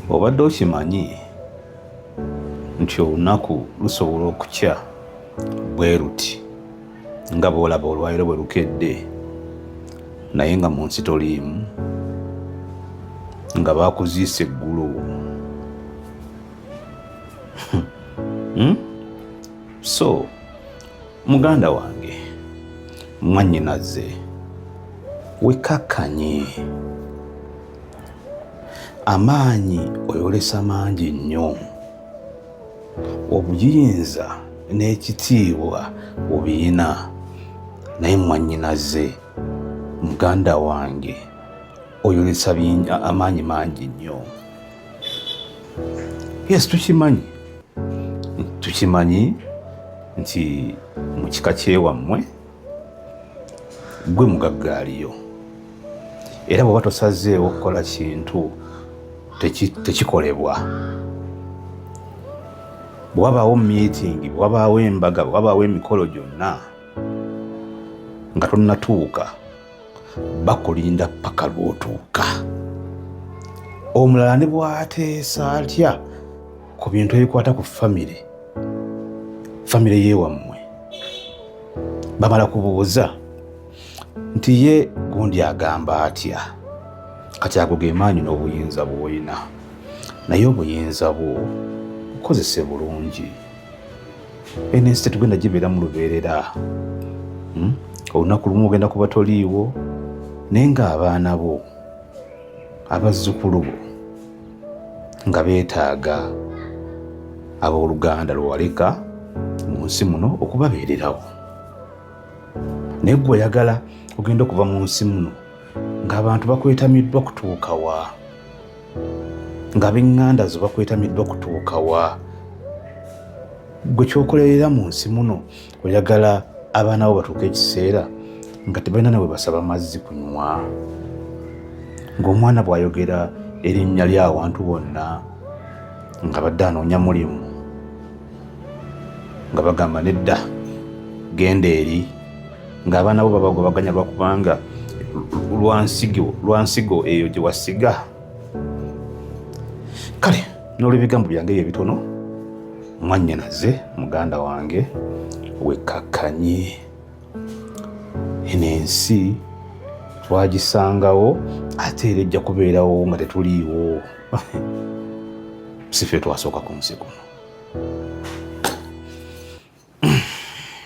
obadde okimanyi nti olunaku lusobola okukya bwe luti nga bwolaba olwaliro bwe lukedde naye nga mu nsi toliimu nga bakuziisa eggulu hmm? so muganda wange mwannyinaze wekakkanye Amaanyi oyolesa mangi nnyo, obuyinza n'ekitiibwa obiyina, naye mwannyinaze, muganda wange, oyolesa amaanyi mangi nnyo. Yes, tukimanyi tukimanyi nti mu kika kyewammwe gwe mugagga aliyo era bw'oba tosazeewo okukola kintu tekikolebwa bwewabaawo miitingi bwewabaawo embaga bwewabaawo emikolo gyonna nga tonnatuuka bakulinda paka lwotuuka omulala ne bwateesa atya ku bintu ebikwata ku famire famire yewammwe bamala kubuuza nti ye gundi agamba atya kati ago ge maanyi n'obuyinza bw'olina naye obuyinza bwo bukozese bulungi eno ensi tetugenda gibeera mu lubeerera hmm? olunaku lumu ogenda kuba toliiwo naye ng'abaana bo abazzukulu bo nga beetaaga ab'oluganda lwewaleka mu nsi muno okubabeererawo naye gwe oyagala ogenda okuva mu nsi muno ng'abantu bakwetamiddwa kutuukawa nga benganda zo bakwetamiddwa kutuuka wa gwe kyokolerera mu nsi muno oyagala abaana bo batuuka ekiseera nga tebalina nawe basaba mazzi kunywa ng'omwana bw'ayogera erinnya ly'awantu bonna nga badde anoonya mulimu nga bagamba nedda genda eri ng'abaana bo babagobaganya lwakubanga lwansigo lwansigo eyo gye wasiga kale n'olwebigambo byange ebyo ebitono mwannyinaze muganda wange wekkakkanye eno ensi twagisangawo ate era ejja kubeerawo nga tetuliiwo sife twasooka ku nsi kuno